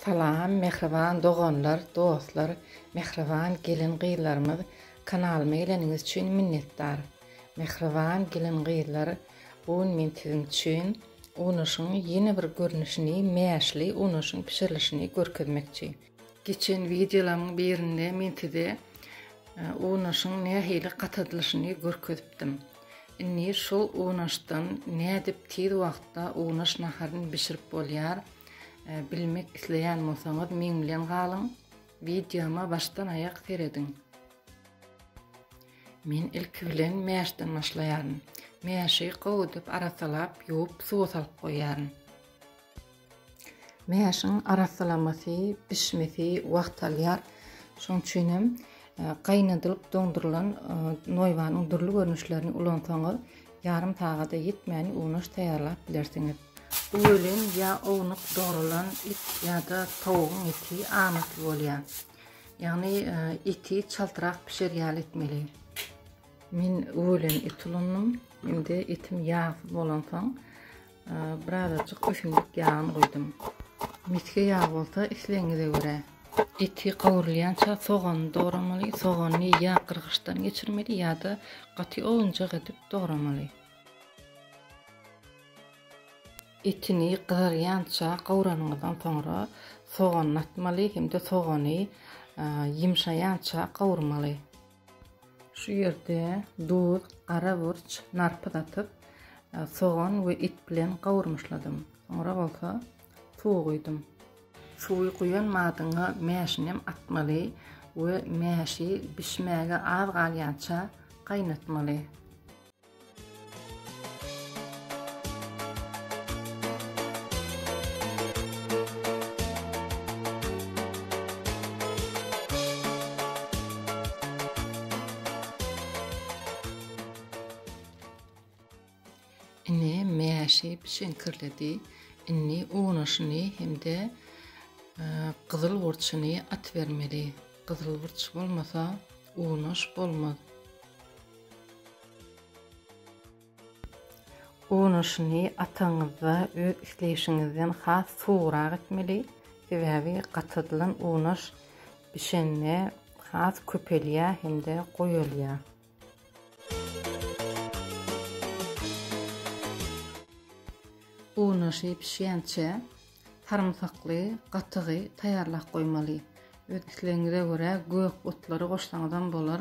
Salam mähriban doganlar dostlar mähriban gelin gyzlarymyz kanalyma geleniňiz üçin minnetdar mähriban gelin gyzlar bu gün men siziň üçin unaşyň ýene bir görnüşini mäşli unaşyň bişirilişini görkezmekçi. Geçen wideolaryň birinde men size unaşyň nähili gatadylyşyny görkezipdim. Indi şu unaşdan nädip tiz wagtda unaş naharyny bişirip bolýar, bilmek isleýän bolsaňyz meň bilen galyň, wideoma başdan aýak serediň. Men ilki bilen mäşden başlaýaryn. Mäşi gowudyp arasalap, ýuwup suwa salyp goýýaryn. Mäşiň arassalamasy, bişmesi wagt alýar. Şonuň üçin hem gaýnadylyp doňdurylan noýbanyň dürli görnüşlerini ulansaňyz, ýarym sagada ýetmän unaş taýýarlap bilersiňiz. Bu welin ýa ownuk dogrulan it ýa-da towugyň eti amatly bolýar. Ýagny eti çaltrak bişer ýaly etmeli. Men welin it ulandym. Indi etim ýagsyz bolansoň, Birazajyk ösümlik ýagyny guýdum. Misge ýag bolsa islegiňize görä. Eti gowrulýança sogany dogramaly. Sogany ýa gyrgyçdan geçirmeli ýa-da gaty owunjak edip dogramaly. Etini gyzarýança gowranyňyzdan soňra soganyny atmaly hem-de sogany ýymşaýança gowurmaly. Şu ýerde duz, gara burç, narpyz atyp, sogan we et bilen gawurmyşladym. Soňra bolsa suw guýdum. Suwy guýan madyňa mäşinem atmaly we mäşi bişmäge az galýança gaýnatmaly. Ine mäşi bişiňkirledi. Indi unaşyny hem-de e, gyzyl burçuny atybermeli. Gyzyl burç bolmasa unaş bolmaz. Unaşyny ataňyzda öz isleýşiňizden has suwurak etmeli, sebäbi gatadylan unaş bişende has köpelýär hem-de goýalýar. Unaşy bişýänçä sarymsakly gatygy taýýarlap goýmaly. Öz islegiňize görä gök otlary goşsaňyzam bolar.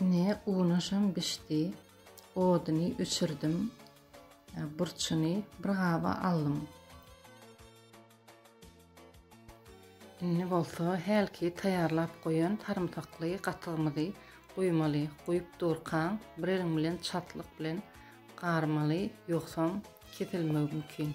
Ine, unaşam bişdi. Oduny öçürdim. Burçuny bir gaba aldym. Indi bolsa hälki taýýarlap goýan sarymsakly gatygymyzy guýmaly. Guýup durkaň, bir eliň bilen çatlyk bilen garmaly, ýogsam kesilmegi mümkin.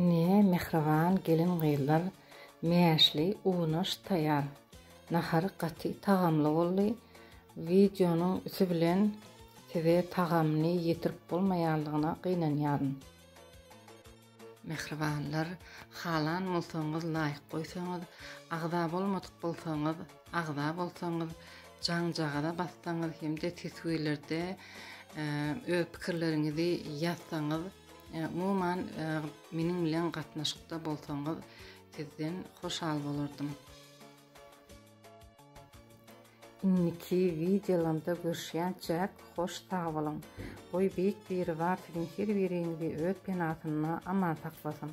Ine, mähriban gelin-gyzlar, mäşli unaş taýýar. Nahar gaty tagamly boldy. Wideonyň üti bilen size tagamyny ýetirip bolmaýandygyna gynanýaryn. Mähribanlar, halan bolsaňyz laýk goýsaňyz, agza bolmadyk bolsaňyz, agza bolsaňyz, Jaňjagaza bassaňyz hem-de teswirlerde öz pikirleriňizi ýazsaňyz, umuman meniň bilen gatnaşykda bolsaňyz, sizden hoşal bolardym. Indiki wideolarymda görüşýänçäk hoş sag boluň. Goý Beýik Biribar siziň her biriňizi öz penasynda aman saklasyn.